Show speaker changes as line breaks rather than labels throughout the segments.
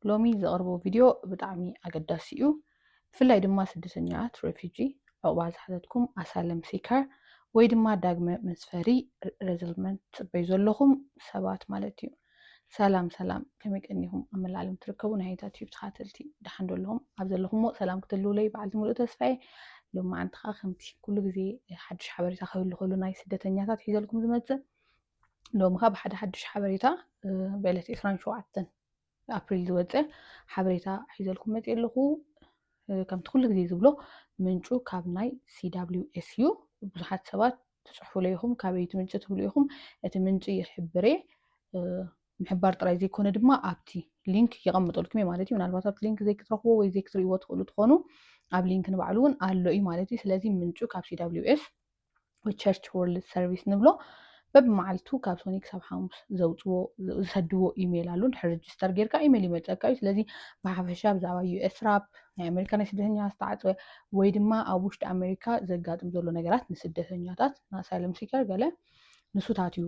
ሎሚ ዘቕርቦ ቪድዮ ብጣዕሚ ኣገዳሲ እዩ ብፍላይ ድማ ስደተኛት ሬፊጂ ዕቑባ ዝሓተትኩም ኣሳለም ሲከር ወይ ድማ ዳግመ መስፈሪ ረዝልመንት ትፅበዩ ዘለኹም ሰባት ማለት እዩ ሰላም ሰላም ከመይ ቀኒኹም ኣብ መላእ ዓለም ትርከቡ ናይ ሃይታት ዩብ ተኻተልቲ ድሓን ዘለኹም ኣብ ዘለኹምዎ ሰላም ክትህልውለይ በዓልቲ ምሉእ ተስፋየ ሎሚ ዓንቲ ከዓ ከምቲ ኩሉ ግዜ ሓድሽ ሓበሬታ ክህሉ ከሉ ናይ ስደተኛታት ሒዘልኩም ዝመፅእ ሎሚ ካብ ሓደ ሓዱሽ ሓበሬታ ብዕለት 27 ኣፕሪል ዝወፀ ሓበሬታ ሒዘልኩም መፅእ ኣለኹ ከምቲ ኩሉ ግዜ ዝብሎ ምንጩ ካብ ናይ ሲዳብሊውኤስ እዩ ብዙሓት ሰባት ትፅሕፉለ ኢኹም ካበይ እቲ ምንጪ ትብሉ ኢኹም እቲ ምንጪ ይሕብረ ምሕባር ጥራይ ዘይኮነ ድማ ኣብቲ ሊንክ የቐምጠልኩም እዩ ማለት እዩ ምናልባት ኣብቲ ሊንክ ዘይክትረኽቦ ወይ ዘይክትርእይዎ ትኽእሉ ትኾኑ ኣብ ሊንክ ንባዕሉ እውን ኣሎ እዩ ማለት እዩ ስለዚ ምንጩ ካብ ሲዳብሊውኤስ ወይ ቸርች ወርልድ ሰርቪስ ንብሎ በብመዓልቱ ካብ ሶኒ ክሳብ ሓሙስ ዘውፅዎ ዝሰድዎ ኢሜይል ኣሎ ድሕሪ ሬጅስተር ጌርካ ኢሜይል ይመፀካ እዩ ስለዚ ብሓፈሻ ብዛዕባ ዩኤስ ራፕ ናይ ኣሜሪካ ናይ ስደተኛ ዝተዓፀወ ወይ ድማ ኣብ ውሽጢ ኣሜሪካ ዘጋጥም ዘሎ ነገራት ንስደተኛታት ንኣሳይለም ሲከር ገለ ንሱታት እዩ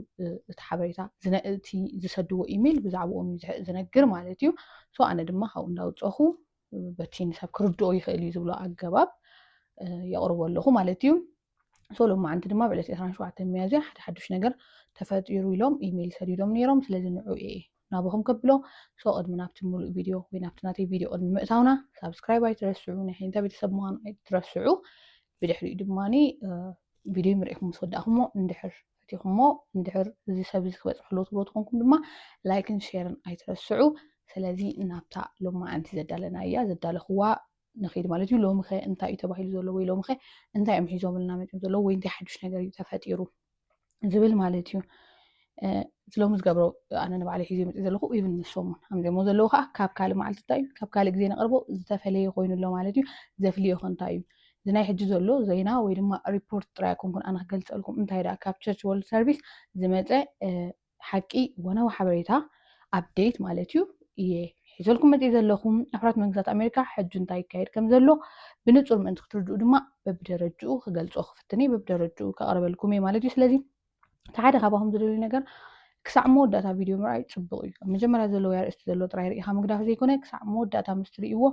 እቲ ሓበሬታ እቲ ዝሰድዎ ኢሜይል ብዛዕባኦም እዩ ዝነግር ማለት እዩ ሶ ኣነ ድማ ካብኡ እንዳውፀኹ በቲ ንሰብ ክርድኦ ይኽእል እዩ ዝብሎ ኣገባብ የቕርቦ ኣለኹ ማለት እዩ ሶ ሎማዓንቲ ድማ ብዕለት 27 መያዝያ ሓደ ሓዱሽ ነገር ተፈጢሩ ኢሎም ኢሜይል ሰዲዶም ነይሮም ስለዚ ንዑ እየ ናብኹም ከብሎ ሶ ቅድሚ ናብቲ ሙሉእ ቪድዮ ወይ ናብቲ ናተይ ቪድዮ ቅድሚ ምእታውና ሳብስክራይብ ኣይትረስዑ ናይ ሓይንታ ቤተሰብ ምዃኑ ኣይትረስዑ ብድሕሪኡ ድማ ቪድዮ ምርኢኹም ምስ ወዳእኹሞ እንድሕር ፈቲኹሞ እንድሕር እዚ ሰብ እዚ ክበጽሖ ኣለዎ ትብሉ ተኾንኩም ድማ ላይክን ሼርን ኣይትረስዑ። ስለዚ ናብታ ሎማዓንቲ ዘዳለናያ ዘዳለኹዋ ንኺድ ማለት እዩ። ሎሚኸ እንታይ እዩ ተባሂሉ ዘሎ ወይ ሎሚኸ እንታይ እዮም ሒዞምልና መጺኦም ዘለዉ ወይ እንታይ ሓዱሽ ነገር እዩ ተፈጢሩ ዝብል ማለት እዩ። እቲ ሎሚ ዝገብሮ ኣነ ንባዕለይ ሒዘ መጺእ ዘለኹ ኢቭን ንሶም እውን ኣምዘሞ ዘለዉ ከዓ ካብ ካልእ መዓልቲ እንታይ እዩ ካብ ካልእ ግዜ ነቕርቦ ዝተፈለየ ኮይኑሎ ማለት እዩ። ዘፍልዮ ከ እንታይ እዩ? እዚ ናይ ሕጂ ዘሎ ዜና ወይ ድማ ሪፖርት ጥራይ ኣይኮንኩን ኣነ ክገልጸልኩም እንታይ ደኣ ካብ ቸርች ወርልድ ሰርቪስ ዝመጸ ሓቂ ወነው ሓበሬታ ኣብዴት ማለት እዩ እየ ሒዘልኩም መጽኢ ዘለኹም ኣሕራት መንግስታት ኣሜሪካ ሕጂ እንታይ ይካየድ ከም ዘሎ ብንጹር ምእንቲ ክትርድኡ ድማ በብደረጅኡ ክገልጾ ክፍትኒ በብደረጅኡ ከቕርበልኩም እየ ማለት እዩ ስለዚ እቲ ሓደ ካባኹም ዝደልዩ ነገር ክሳዕ መወዳእታ ቪድዮ ምርኣይ ፅቡቕ እዩ ኣብ መጀመርያ ዘለዎ ኣርእስቲ ዘሎ ጥራይ ርኢኻ ምግዳፍ ዘይኮነ ክሳዕ መወዳእታ ምስ ትርእይዎ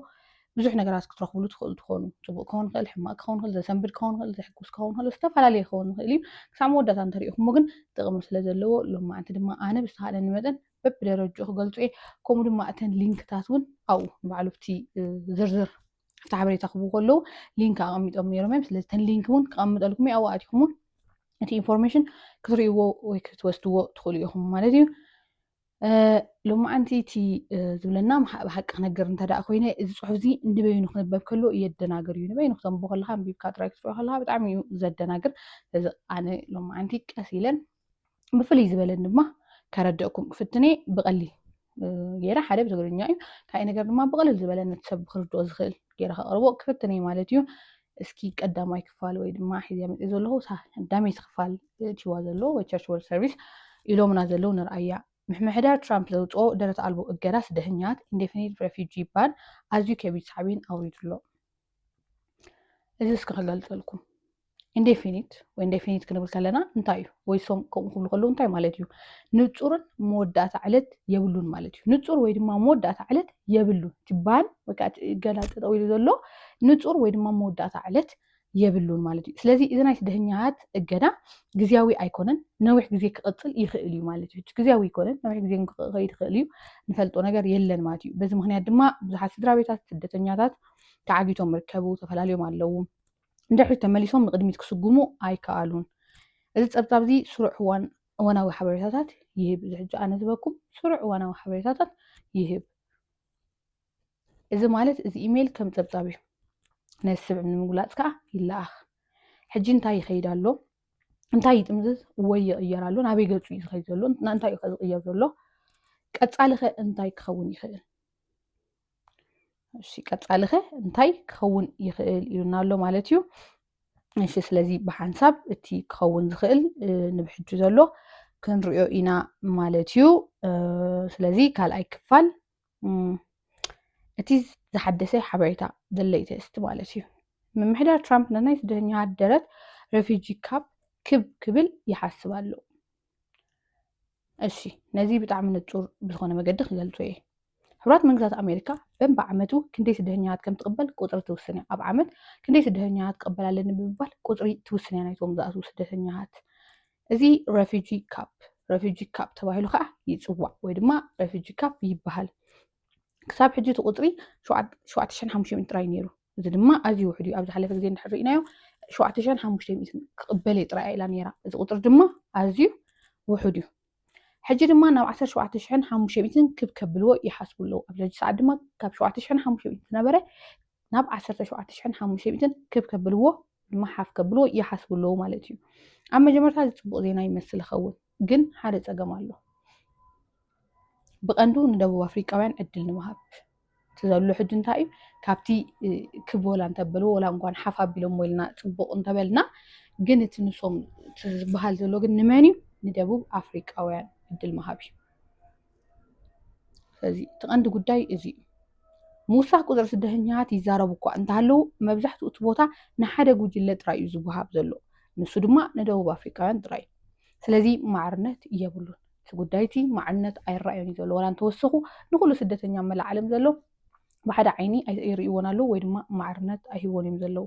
ብዙሕ ነገራት ክትረኽብሉ ትኽእሉ ትኾኑ ፅቡቕ ክኸውን ይኽእል ሕማቅ ክኸውን ይኽእል ዘሰንብድ ክኸውን ይኽእል ዘሕጉስ ክኸውን ይኽእል ዝተፈላለየ ክኸውን ይኽእል እዩ ክሳዕ መወዳእታ እንተሪኢኹሞ ግን ጥቕሚ ስለ ዘለዎ ሎማዕንቲ ድማ ኣነ ብዝተኻእለኒ መጠን በብደረጅኡ ክገልፁ እየ ከምኡ ድማ እተን ሊንክታት እውን ኣብኡ ንባዕሉ እቲ ዝርዝር ኣብቲ ሓበሬታ ክብሉ ከለዉ ሊንክ ኣቐሚጦም ነይሮም እዮም ስለዚ ተን ሊንክ እውን ክቐምጠልኩም እዩ ኣብኡ ኣቲኹም እውን እቲ ኢንፎርሜሽን ክትርእይዎ ወይ ክትወስድዎ ትኽእሉ ኢኹም ማለት እዩ ሎማዓንቲ እቲ ዝብለና ብሓቂ ክነገር እንተ ደኣ ኮይነ እዚ ፅሑፍ እዚ ንበይኑ ክነበብ ከሎ የደናግር እዩ ንበይኑ ክተንብቦ ከለካ ኣንቢብካ ጥራይ ክትሪኦ ከለካ ብጣዕሚ እዩ ዘደናግር ስለዚ ኣነ ሎማዓንቲ ቀስ ኢለን ብፍልይ ዝበለ ድማ ከረድእኩም ክፍትን እየ ብቐሊ ገይረ ሓደ ብትግርኛ እዩ ካይ ነገር ድማ ብቐልል ዝበለ ነቲ ሰብ ክርድኦ ዝኽእል ገይረ ከቕርቦ ክፍትን እየ ማለት እዩ እስኪ ቀዳማይ ክፋል ወይ ድማ ሒዘ መፅ ዘለኹ ዳሜት ክፋል ቲዋ ዘሎ ወይ ቸርች ወርልድ ሰርቪስ ኢሎምና ዘለዉ ንርኣያ ምሕምሕዳር ትራምፕ ዘውፅኦ ደረት ኣልቦ እገዳ ስደተኛት ኢንዴፊኒት ሬፊጂ ባን ኣዝዩ ከቢድ ሳዕቤን ኣውሪዱ ኣሎ እዚ እስኪ ክገልፀልኩም ኢንዴፊኒት ወይ ኢንዴፊኒት ክንብል ከለና እንታይ እዩ ወይ ሶም ከምኡ ክብሉ ከለዉ እንታይ ማለት እዩ ንፁርን መወዳእታ ዕለት የብሉን ማለት እዩ ንፁር ወይ ድማ መወዳእታ ዕለት የብሉን ትባል ወይ ከዓ ገላ ጠጠው ኢሉ ዘሎ ንፁር ወይ ድማ መወዳእታ ዕለት የብሉን ማለት እዩ ስለዚ እዚ ናይ ስደተኛት እገዳ ግዜያዊ ኣይኮነን ነዊሕ ግዜ ክቕፅል ይኽእል እዩ ማለት እዩ ግዜያዊ ኣይኮነን ነዊሕ ግዜ ክኸይድ ይኽእል እዩ ንፈልጦ ነገር የለን ማለት እዩ በዚ ምክንያት ድማ ብዙሓት ስድራ ቤታት ስደተኛታት ተዓጊቶም ይርከቡ፣ ተፈላልዮም ኣለዉ። ንድሕሪት ተመሊሶም ንቕድሚት ክስጉሙ ኣይከኣሉን። እዚ ጸብጻብ እዚ ስሩዕ እዋን እዋናዊ ሓበሬታታት ይህብ። እዚ ሕጂ ኣነ ዝበኩም ስሩዕ እዋናዊ ሓበሬታታት ይህብ። እዚ ማለት እዚ ኢሜይል ከም ጸብጻብ እዩ። ነዚ ስብዕብ ንምግላጽ ከኣ ይለኣኽ። ሕጂ እንታይ ይኸይድ ኣሎ? እንታይ ይጥምዝዝ ወይ ይቕየር ኣሎ? ናበይ ገጹ እዩ ዝኸይድ ዘሎ? ንእንታይ እዩ ከ ዝቕየር ዘሎ? ቀጻሊ ከ እንታይ ክኸውን ይኽእል? እሺ ቀጻሊ ከ እንታይ ክኸውን ይኽእል ኢሉና ኣሎ ማለት እዩ እሺ ስለዚ ብሓንሳብ እቲ ክኸውን ዝኽእል ንብሕጁ ዘሎ ክንሪኦ ኢና ማለት እዩ ስለዚ ካልኣይ ክፋል እቲ ዝሓደሰ ሓበሬታ the latest ማለት እዩ ምምሕዳር ትራምፕ ንናይ ስደተኛታት ደረት ሬፊጂ ካብ ክብ ክብል ይሓስብ ኣሎ እሺ ነዚ ብጣዕሚ ንጹር ብዝኾነ መገዲ ክገልጾ እየ ሕቡራት መንግስታት ኣሜሪካ በንቢ ዓመቱ ክንደይ ስደተኛታት ከም ትቕበል ቁፅሪ ትውስን እያ ኣብ ዓመት ክንደይ ስደተኛታት ትቐበል ኣለኒ ብምባል ቁፅሪ ትውስን እያ ናይቶም ዝኣትዉ ስደተኛታት እዚ ረፊጂ ካፕ ረፊጂ ካፕ ተባሂሉ ከዓ ይፅዋዕ ወይ ድማ ረፊጂ ካፕ ይበሃል ክሳብ ሕጂ እቲ ቁፅሪ 7500 ጥራይ ነይሩ እዚ ድማ ኣዝዩ ውሕድ እዩ። ኣብ ዝሓለፈ ግዜ እንድሕር ርኢናዮ ሸውዓተ ሽሕን ሓሙሽተ ሚእትን ክቕበል እየ ጥራይ ኢላ ነይራ። እዚ ቁፅሪ ድማ ኣዝዩ ውሕድ እዩ። ሕጂ ድማ ናብ ዓሰርተ ሸውዓተ ሽሕን ሓሙሽተ ሚእትን ክብ ከብልዎ ይሓስቡ ኣለዉ። ኣብዚ ሕጂ ሰዓት ድማ ካብ ሸውዓተ ሽሕን ሓሙሽተ ሚእትን ዝነበረ ናብ ዓሰርተ ሸውዓተ ሽሕን ሓሙሽተ ሚእትን ክብ ከብልዎ ድማ ሓፍ ከብልዎ ይሓስቡ ኣለዉ ማለት እዩ። ኣብ መጀመርታ እዚ ፅቡቕ ዜና ይመስል ይኸውን። ግን ሓደ ፀገም ኣሎ ብቐንዱ ንደቡብ ኣፍሪቃውያን ዕድል ንምሃብ እቲ ዘሎ ሕጂ እንታይ እዩ ካብቲ ክብ ወላ እንተበልዎ ወላ እንኳን ሓፍ ኣቢሎሞ ኢልና ፅቡቕ እንተበልና ግን እቲ ንሶም ዝበሃል ዘሎ ግን ንመን እዩ ንደቡብ ኣፍሪቃውያን ዕድል ምሃብ እዩ እዚ እቲ ቀንዲ ጉዳይ እዚ እዩ። ምውሳኽ ቁፅሪ ስደተኛታት ይዛረቡ እኳ እንተሃለዉ መብዛሕትኡ እቲ ቦታ ንሓደ ጉጅለ ጥራይ እዩ ዝወሃብ ዘሎ ንሱ ድማ ንደቡብ ኣፍሪካውያን ጥራይ እዩ። ስለዚ ማዕርነት የብሉን እቲ ጉዳይ እቲ ማዕርነት ኣይረኣዮን እዩ ዘሎ ዋላ እንተወሰኹ ንኩሉ ስደተኛ መላእ ዓለም ዘሎ ብሓደ ዓይኒ ይርእይዎን ኣለዉ ወይ ድማ ማዕርነት ኣይህቦን እዮም ዘለዉ።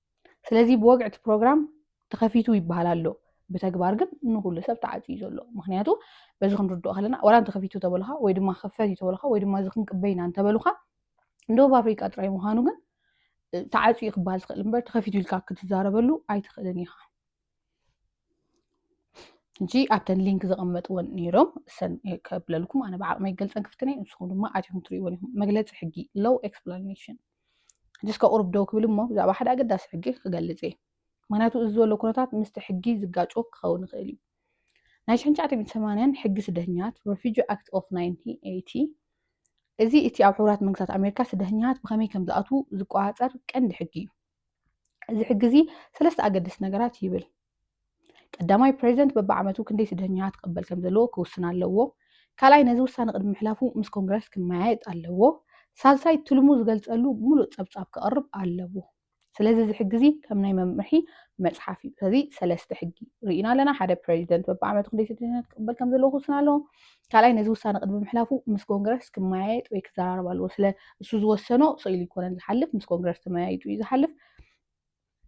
ስለዚ ብወግዒ እቲ ፕሮግራም ተኸፊቱ ይበሃል ኣሎ ብተግባር ግን ንኩሉ ሰብ ተዓፅዩ ዘሎ ምክንያቱ በዚ ክንርድኦ ከለና ወላ እንተኸፊቱ ተበልኻ ወይ ድማ ክፈት እዩ ተበልኻ ወይ ድማ እዚ ክንቅበ ኢና እንተበልኻ ደቡብ ኣፍሪቃ ጥራይ ምዃኑ ግን ተዓፅዩ ክበሃል ዝኽእል እምበር ተኸፊቱ ኢልካ ክትዛረበሉ ኣይትኽእልን ኢኻ እንጂ ኣብተን ሊንክ ዘቐመጥወን ነይሮም እሰን ከብለልኩም ኣነ ብዓቕመ ይገልፀን ክፍትነ ንስኹም ድማ ኣትኹም ትሪእዎን ኢኹም መግለፂ ሕጊ ሎው ኤክስፕላኔሽን ሕጅስ ከቑርብ ደው ክብል እሞ ብዛዕባ ሓደ ኣገዳሲ ሕጊ ክገልፅ እየ ምክንያቱ እዚ ዘሎ ኩነታት ምስቲ ሕጊ ዝጋጮ ክኸውን ይኽእል እዩ ናይ ሽሕን ሸዓተ ሰማንያን ሕጊ ስደተኛት ረፊጂ ኣክት ኦፍ 1980 እዚ እቲ ኣብ ሕቡራት መንግስታት ኣሜሪካ ስደተኛት ብኸመይ ከም ዝኣትዉ ዝቆፃፀር ቀንዲ ሕጊ እዩ እዚ ሕጊ እዚ ሰለስተ ኣገደስቲ ነገራት ይብል። ቀዳማይ ፕሬዚደንት በብዓመቱ ክንደይ ስደተኛታት ክቕበል ከም ዘለዎ ክውስን ኣለዎ። ካልኣይ ነዚ ውሳነ ቅድሚ ምሕላፉ ምስ ኮንግረስ ክመያየጥ ኣለዎ። ሳልሳይ ትልሙ ዝገልጸሉ ሙሉእ ጸብጻብ ክቐርብ ኣለዎ። ስለዚ እዚ ሕጊ እዚ ከም ናይ መምርሒ መጽሓፍ እዩ። ስለዚ ሰለስተ ሕጊ ርኢና ኣለና። ሓደ ፕሬዚደንት በብዓመቱ ክንደይ ስደተኛታት ክቕበል ከም ዘለዎ ክውስን ኣለዎ። ካልኣይ ነዚ ውሳነ ቅድሚ ምሕላፉ ምስ ኮንግረስ ክመያየጥ ወይ ክዘራረብ ኣለዎ ስለ እሱ ዝወሰኖ ስኢሉ ይኮነን ዝሓልፍ ምስ ኮንግረስ ተመያይጡ እዩ ዝሓልፍ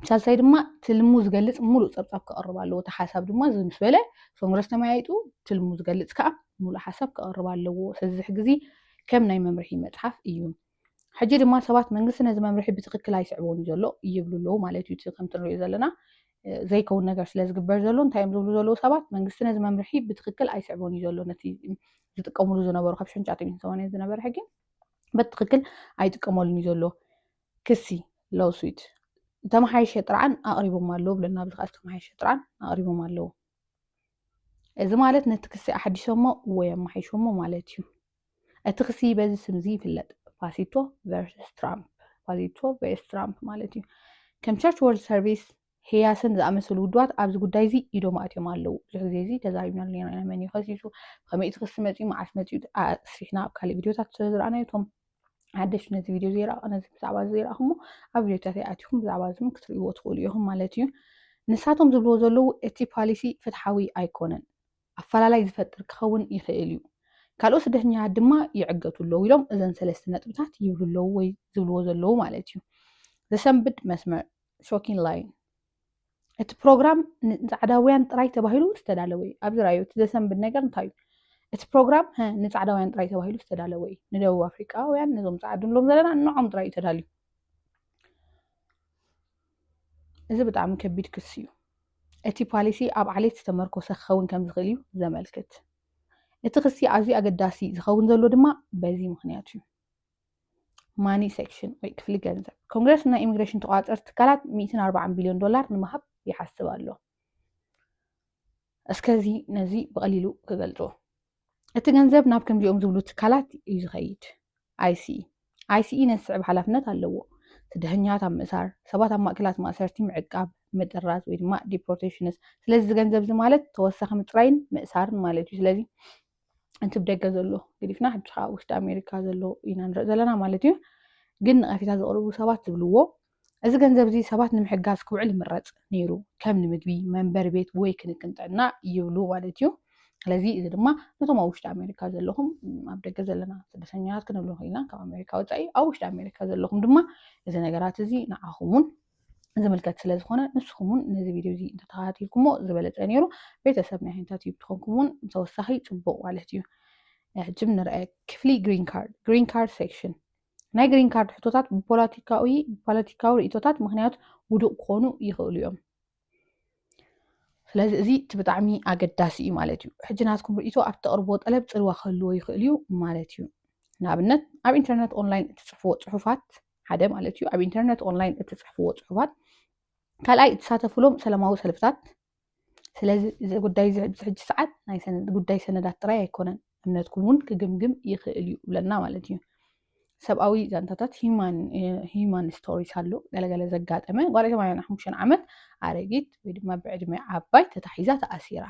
ሳልሳይ ድማ ትልሙ ዝገልፅ ሙሉእ ፀብፃብ ክቐርብ ኣለዎ እቲ ሓሳብ ድማ እዚ ምስ በለ ኮንግረስ ተመያይጡ ትልሙ ዝገልፅ ከዓ ሙሉእ ሓሳብ ክቐርብ ኣለዎ ስለዚ ግዚ ከም ናይ መምርሒ መፅሓፍ እዩ ሕጂ ድማ ሰባት መንግስቲ ነዚ መምርሒ ብትክክል ኣይስዕቦን እዩ ዘሎ ይብሉ ኣለዉ ማለት እዩ። እቲ ከምቲ ንሪኦ ዘለና ዘይከውን ነገር ስለ ዝግበር ዘሎ እንታይ እዮም ዝብሉ ዘለዉ ሰባት መንግስቲ ነዚ መምርሒ ብትክክል ኣይስዕቦን እዩ ዘሎ ነቲ ዝጥቀምሉ ዝነበሩ ካብ ሽሕን ትሽዓተ ሚእትን ሰማንያን ዝነበረ ሕጊ በቲ ትክክል ኣይጥቀመሉን እዩ ዘሎ ክሲ ሎስዊት ዝተመሓየሸ ጥርዓን ኣቕሪቦም ኣለዉ ብለና ኣብዚ ከዓ ዝተመሓየሸ ጥርዓን ኣቕሪቦም ኣለዉ እዚ ማለት ነቲ ክሲ ኣሓዲሶሞ ወይ ኣመሓይሾሞ ማለት እዩ እቲ ክሲ በዚ ስም እዚ ይፍለጥ፣ ፋሲቶ ቨርስስ ትራምፕ፣ ፋሲቶ ቨርስ ትራምፕ ማለት እዩ። ከም ቸርች ወርልድ ሰርቪስ፣ ህያስን ዝኣመሰሉ ውድባት ኣብዚ ጉዳይ እዚ ኢዶም ኣእትዮም ኣለዉ። ብዙሕ ግዜ እዚ ተዛሪብናሉ ኔርና ኢና፣ መን እዩ ከሲሱ፣ ብኸመይ እቲ ክሲ መጺኡ፣ መዓስ መጺኡ ኣስፊሕና ኣብ ካልእ ቪድዮታት ስለ ዝረኣናዮ እቶም ሓደሽቲ ነዚ ቪድዮ ዘይረኣ ነዚ ብዛዕባ እዚ ዘይረኣኹሞ ኣብ ቪድዮታት ይኣትኹም ብዛዕባ እዚ እውን ክትርእይዎ ትኽእሉ ኢኹም ማለት እዩ። ንሳቶም ዝብልዎ ዘለዉ እቲ ፓሊሲ ፍትሓዊ ኣይኮነን። ኣፈላላይ ዝፈጥር ክኸውን ይኽእል እዩ። ካልኦት ስደተኛታት ድማ ይዕገቱ ኣለዉ ኢሎም እዘን ሰለስተ ነጥብታት ይብሉ ኣለዉ ወይ ዝብልዎ ዘለዉ ማለት እዩ። ዘሰንብድ መስመር፣ ሾኪን ላይን፣ እቲ ፕሮግራም ንጻዕዳውያን ጥራይ ተባሂሉ ዝተዳለወ እዩ። ኣብዚ ራዩ እቲ ዘሰንብድ ነገር እንታይ እዩ? እቲ ፕሮግራም ሀ ንጻዕዳውያን ጥራይ ተባሂሉ ዝተዳለወ እዩ። ንደቡብ ኣፍሪቃውያን ነዞም ጻዕዱ ንብሎም ዘለና ንዖም ጥራይ እዩ ተዳልዩ። እዚ ብጣዕሚ ከቢድ ክሲ እዩ። እቲ ፓሊሲ ኣብ ዓሌት ዝተመርኮሰ ክኸውን ከም ዝኽእል እዩ ዘመልክት። እቲ ክሲ ኣዝዩ ኣገዳሲ ዝኸውን ዘሎ ድማ በዚ ምኽንያት እዩ። ማኒ ሴክሽን ወይ ክፍሊ ገንዘብ ኮንግረስ ናይ ኢሚግሬሽን ተቋፀርቲ ትካላት ሚእትን ኣርባዓን ቢልዮን ዶላር ንምሃብ ይሓስብ ኣሎ። እስከዚ ነዚ ብቐሊሉ ክገልጾ እቲ ገንዘብ ናብ ከምዚኦም ዝብሉ ትካላት እዩ ዝኸይድ ኣይሲኢ ኣይሲኢ ነዚ ስዕብ ሓላፍነት ኣለዎ ስደተኛታት ኣብ ምእሳር ሰባት ኣብ ማእከላት ማእሰርቲ ምዕቃብ ምጥራዝ ወይ ድማ ዲፖርቴሽንስ ስለዚ እዚ ገንዘብ እዚ ማለት ተወሳኺ ምፅራይን ምእሳርን ማለት እዩ ስለዚ እቲ ብደገ ዘሎ ግዲፍና ሕጂ ከዓ ውሽጢ ኣሜሪካ ዘሎ ኢና ንርኢ ዘለና ማለት እዩ ግን ነቐፌታ ዘቕርቡ ሰባት ዝብልዎ እዚ ገንዘብ እዚ ሰባት ንምሕጋዝ ክውዕል ይምረፅ ነይሩ ከም ንምግቢ መንበሪ ቤት ወይ ክንክን ጥዕና ይብሉ ማለት እዩ ስለዚ እዚ ድማ ነቶም ኣብ ውሽጢ ኣሜሪካ ዘለኹም ኣብ ደገ ዘለና ስደተኛታት ክንብሎ ክኢልና ካብ ኣሜሪካ ወፃኢ ኣብ ውሽጢ ኣሜሪካ ዘለኹም ድማ እዚ ነገራት እዚ ንዓኹም እውን ዝምልከት ስለ ዝኾነ ንስኹም እውን ነዚ ቪድዮ እዚ እንተተኸታቲልኩሞ ዝበለፀ ነይሩ ቤተሰብ ናይ ሃይንታት ዩብ ትኾንኩም እውን ተወሳኺ ፅቡቕ ማለት እዩ ሕጂ ንርአ ክፍሊ ግሪን ካርድ ግሪን ካርድ ሴክሽን ናይ ግሪን ካርድ ሕቶታት ብፖለቲካዊ ፖለቲካዊ ርእቶታት ምክንያት ውዱቕ ክኾኑ ይኽእሉ እዮም ስለዚ እዚ እቲ ብጣዕሚ ኣገዳሲ እዩ ማለት እዩ ሕጂ ናትኩም ርእቶ ኣብ ተቕርቦ ጠለብ ፅልዋ ክህልዎ ይኽእል እዩ ማለት እዩ ንኣብነት ኣብ ኢንተርነት ኦንላይን እትፅሕፍዎ ፅሑፋት ሓደ ማለት እዩ ኣብ ኢንተርነት ኦንላይን እትፅሕፍዎ ፅሑፋት ካልኣይ እትሳተፍሎም ሰላማዊ ሰልፍታት ስለዚ እዚ ጉዳይ እዚ ሕጂ ሰዓት ናይ ጉዳይ ሰነዳት ጥራይ ኣይኮነን እምነትኩም እውን ክግምግም ይኽእል እዩ ብለና ማለት እዩ ሰብኣዊ ዛንታታት ሂማን ስቶሪስ ኣሎ ገለገለ ዘጋጠመ ጓል ሰማንያ ሓሙሽተ ዓመት ኣረጊት ወይ ድማ ብዕድመ ዓባይ ተታሒዛ ተኣሲራ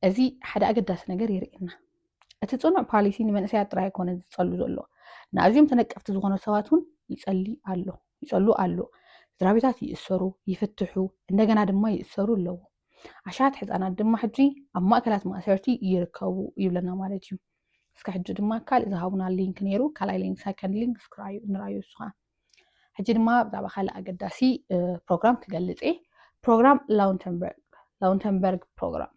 እዚ ሓደ ኣገዳሲ ነገር የርእየና እቲ ፅኑዕ ፓሊሲ ንመንእሰያት ጥራይ ኣይኮነ ዝፀሉ ዘሎ ንኣዝዮም ተነቀፍቲ ዝኾኑ ሰባት እውን ይፀሊ ኣሎ ይፀሉ ኣሎ ስድራቤታት ይእሰሩ ይፍትሑ እንደገና ድማ ይእሰሩ ኣለዉ ኣሽሓት ሕፃናት ድማ ሕጂ ኣብ ማእከላት ማእሰርቲ ይርከቡ ይብለና ማለት እዩ እስከ ሕጂ ድማ ካልእ ዝሃቡና ሊንክ ነይሩ ካልኣይ ሊንክ ሰከንድ ሊንክ ስክራዩ ንራዩ እሱ ከዓ ሕጂ ድማ ብዛዕባ ካልእ ኣገዳሲ ፕሮግራም ክገልፅ እየ ፕሮግራም ላውንተንበርግ ላውንተንበርግ ፕሮግራም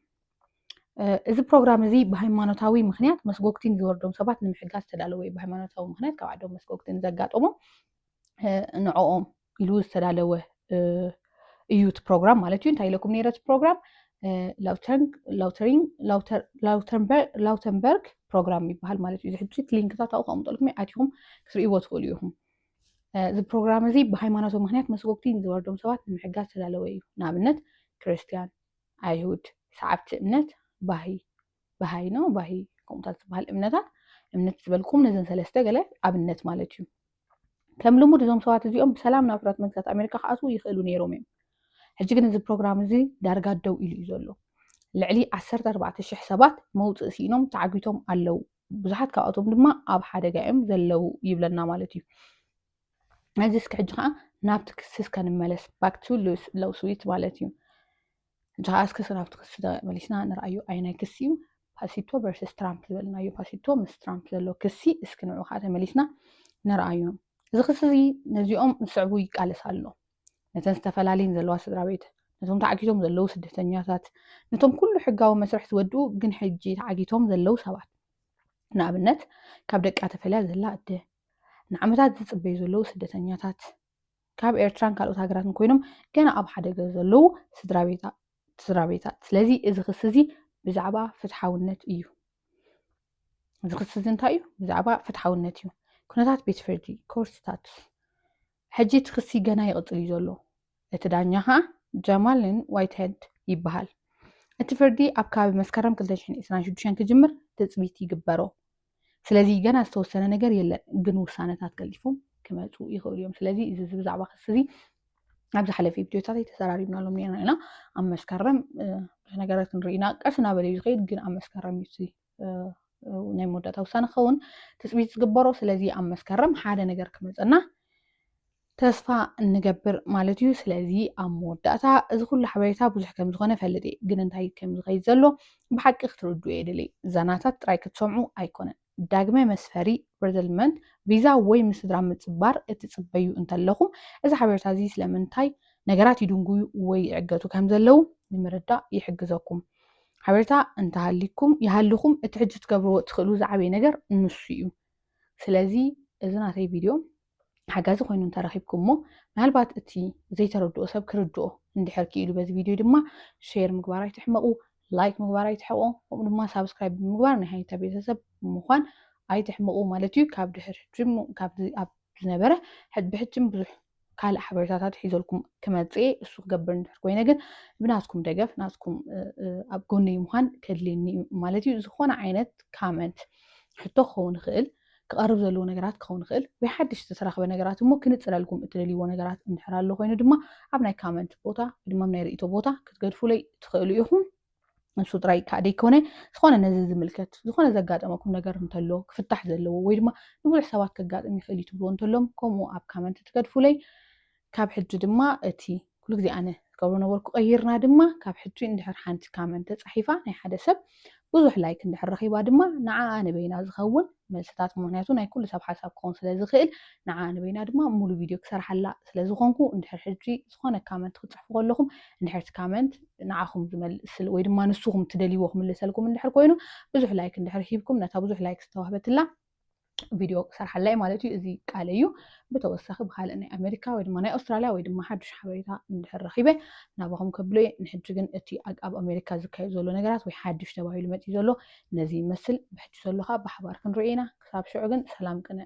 እዚ ፕሮግራም እዚ ብሃይማኖታዊ ምክንያት መስጎግቲን ዝወርዶም ሰባት ንምሕጋዝ ዝተዳለወ እዩ ብሃይማኖታዊ ምክንያት ካብ ዓዶም መስጎግቲን ዘጋጠሞም ንዕኦም ኢሉ ዝተዳለወ እዩ እቲ ፕሮግራም ማለት እዩ እንታይ ኢለኩም ነይረ እቲ ፕሮግራም ላውተንበርግ ፕሮግራም ይበሃል ማለት እዩ ዝሕጂ ሊንክታት ኣብኡ ከቕምጠልኩም ኣትኹም ክትርእይዎ ትኽእሉ ኢኹም እዚ ፕሮግራም እዚ ብሃይማኖት ምክንያት መስጎግቲ ንዝወርዶም ሰባት ንምሕጋዝ ዝተዳለወ እዩ ንኣብነት ክርስትያን ኣይሁድ ሰዓብቲ እምነት ባሂ ባሃይ ነው ባሂ ከምኡታት ዝበሃል እምነታት እምነት ዝበልኩም ነዘን ሰለስተ ገለ ኣብነት ማለት እዩ ከም ልሙድ እዞም ሰባት እዚኦም ብሰላም ናብ ሕራት መንግስታት ኣሜሪካ ክኣትዉ ይኽእሉ ነይሮም እዮም ሕጂ ግን እዚ ፕሮግራም እዚ ዳርጋ ደው ኢሉ እዩ ዘሎ ልዕሊ 14,000 ሰባት መውፅእ ስኢኖም ተዓጊቶም ኣለው ብዙሓት ካብኣቶም ድማ ኣብ ሓደጋ እዮም ዘለው ይብለና ማለት እዩ እዚ እስኪ ሕጂ ከዓ ናብቲ ክስስ ከንመለስ ባክቱ ለውስዊት ማለት እዩ እንተኸዓ እስከ ናብቲ ክሲ ተመሊስና ንርኣዮ ኣየናይ ክሲ እዩ ፓሲቶ ቨርስስ ትራምፕ ዝበልናዮ ፓሲቶ ምስ ትራምፕ ዘሎ ክሲ እስኪ ንዑ ከዓ ተመሊስና ንርኣዮ እዚ ክሲ እዚ ነዚኦም ዝስዕቡ ይቃለስ ኣሎ ነተን ዝተፈላለየን ዘለዋ ስድራ ቤት ነቶም ተዓጊቶም ዘለዉ ስደተኛታት ነቶም ኩሉ ሕጋዊ መስርሕ ዝወድኡ ግን ሕጂ ተዓጊቶም ዘለዉ ሰባት ንኣብነት ካብ ደቃ ተፈልያ ዘላ ኣደ ንዓመታት ዝፅበዩ ዘለዉ ስደተኛታት ካብ ኤርትራን ካልኦት ሃገራትን ኮይኖም ገና ኣብ ሓደገ ዘለዉ ስድራ ቤታት ስለዚ እዚ ክሲ እዚ ብዛዕባ ፍትሓውነት እዩ እዚ ክሲ እዚ እንታይ እዩ ብዛዕባ ፍትሓውነት እዩ ኩነታት ቤት ፍርዲ ኮርት ስታቱስ ሕጂ እቲ ክሲ ገና ይቕፅል እዩ ዘሎ እቲ ዳኛ ከዓ ጀማልን ዋይትሄድ ይበሃል እቲ ፍርዲ ኣብ ከባቢ መስከረም 226 ክጅምር ትፅቢት ይግበሮ ስለዚ ገና ዝተወሰነ ነገር የለን፣ ግን ውሳነታት ቀልጢፎም ክመፁ ይኽእሉ እዮም። ስለዚ እዚ ብዛዕባ ክሲ እዚ ኣብ ዝሓለፈ ቪድዮታተይ ተዘራሪብናሎም ነርና ኢና። ኣብ መስከረም ብዙሕ ነገራት ክንርኢ ኢና። ቀስ እናበለ እዩ ዝኸይድ፣ ግን ኣብ መስከረም እዩ እቲ ናይ መወዳእታ ውሳነ ክኸውን ትፅቢት ዝግበሮ። ስለዚ ኣብ መስከረም ሓደ ነገር ክመፀና ተስፋ እንገብር ማለት እዩ። ስለዚ ኣብ መወዳእታ እዚ ኩሉ ሓበሬታ ብዙሕ ከም ዝኾነ ፈልጥ እየ፣ ግን እንታይ ከም ዝኸይድ ዘሎ ብሓቂ ክትርድኡ የድሊ። ዛናታት ጥራይ ክትሰምዑ ኣይኮነን። ዳግመ መስፈሪ፣ Resettlement፣ ቪዛ ወይ ምስ ስድራ ምጽባር እትጽበዩ እንተለኹም፣ እዚ ሓበሬታ እዚ ስለምንታይ ነገራት ይድንጉዩ ወይ ይዕገቱ ከም ዘለዉ ንምርዳእ ይሕግዘኩም። ሓበሬታ እንተሃሊኩም ይሃልኹም እቲ ሕጂ ክትገብርዎ እትኽእሉ ዝዓበየ ነገር ንሱ እዩ። ስለዚ እዚ ናተይ ቪድዮ ሓጋዚ ኮይኑ እንተረኺብኩሞ ምናልባት እቲ ዘይተረድኦ ሰብ ክርድኦ እንድሕር ክኢሉ በዚ ቪድዮ ድማ ሼር ምግባር ኣይትሕመቑ ላይክ ምግባር ኣይትሕቆ ከምኡ ድማ ሳብስክራይብ ብምግባር ናይ ሃይታ ቤተሰብ ምዃን ኣይትሕመቑ ማለት እዩ ካብ ድሕር ሕጅም ካብዚ ኣብ ዝነበረ ብሕጅም ብዙሕ ካልእ ሓበሬታታት ሒዘልኩም ክመፅኤ እሱ ክገብር እንድሕር ኮይነ ግን ብናትኩም ደገፍ ናትኩም ኣብ ጎነይ ምዃን ከድልየኒ እዩ ማለት እዩ ዝኾነ ዓይነት ካመንት ሕቶ ክኸውን ይኽእል ክቐርብ ዘለዎ ነገራት ክኸውን ይኽእል፣ ወይ ሓድሽ ዝተተረኽበ ነገራት እሞ ክንጽረልኩም እትደልይዎ ነገራት እንድሕር ኣሎ ኮይኑ ድማ ኣብ ናይ ካመንት ቦታ ወይ ድማ ኣብ ናይ ርእይቶ ቦታ ክትገድፉለይ ትኽእሉ ኢኹም። ንሱ ጥራይ ከዓ ደይኮነ ዝኾነ ነዚ ዝምልከት ዝኾነ ዘጋጠመኩም ነገር እንተሎ ክፍታሕ ዘለዎ ወይ ድማ ንብዙሕ ሰባት ከጋጥም ይኽእል እዩ ትብልዎ እንተሎም ከምኡ ኣብ ካመንት ትገድፉለይ ካብ ሕጂ ድማ እቲ ኩሉ ግዜ ኣነ ዝገብሮ ነበርኩ ቀይርና ድማ ካብ ሕጂ እንድሕር ሓንቲ ካመን ተጻሒፋ ናይ ሓደ ሰብ ብዙሕ ላይክ እንድሕር ረኺባ ድማ ንዓኣ ንበይና ዝኸውን መልስታት ምክንያቱ ናይ ኩሉ ሰብ ሓሳብ ክኸውን ስለ ዝኽእል ንዓኣ ንበይና ድማ ሙሉ ቪድዮ ክሰርሓላ ስለ ዝኾንኩ እንድሕር ሕጂ ዝኾነ ካመንት ክትጽሕፉ ከለኹም እንድሕር እቲ ካመንት ንዓኹም ዝመልስ ወይ ድማ ንስኹም ትደልይዎ ክምልሰልኩም እንድሕር ኮይኑ ብዙሕ ላይክ እንድሕር ሂብኩም ነታ ብዙሕ ላይክ ዝተዋህበትላ ቪድዮ ክሰርሓላ እየ ማለት እዩ እዚ ቃለ እዩ ብተወሳኺ ብካልእ ናይ ኣሜሪካ ወይ ድማ ናይ ኣውስትራልያ ወይ ድማ ሓዱሽ ሓበሬታ እንድሕር ረኺበ ናባኹም ከብሎ እየ ንሕጂ ግን እቲ ኣብ ኣሜሪካ ዝካየድ ዘሎ ነገራት ወይ ሓዱሽ ተባሂሉ መፅኡ ዘሎ ነዚ ይመስል ብሕጂ ዘሎ ከዓ ብሓባር ክንሪኦ ኢና ክሳብ ሽዑ ግን ሰላም ቅነ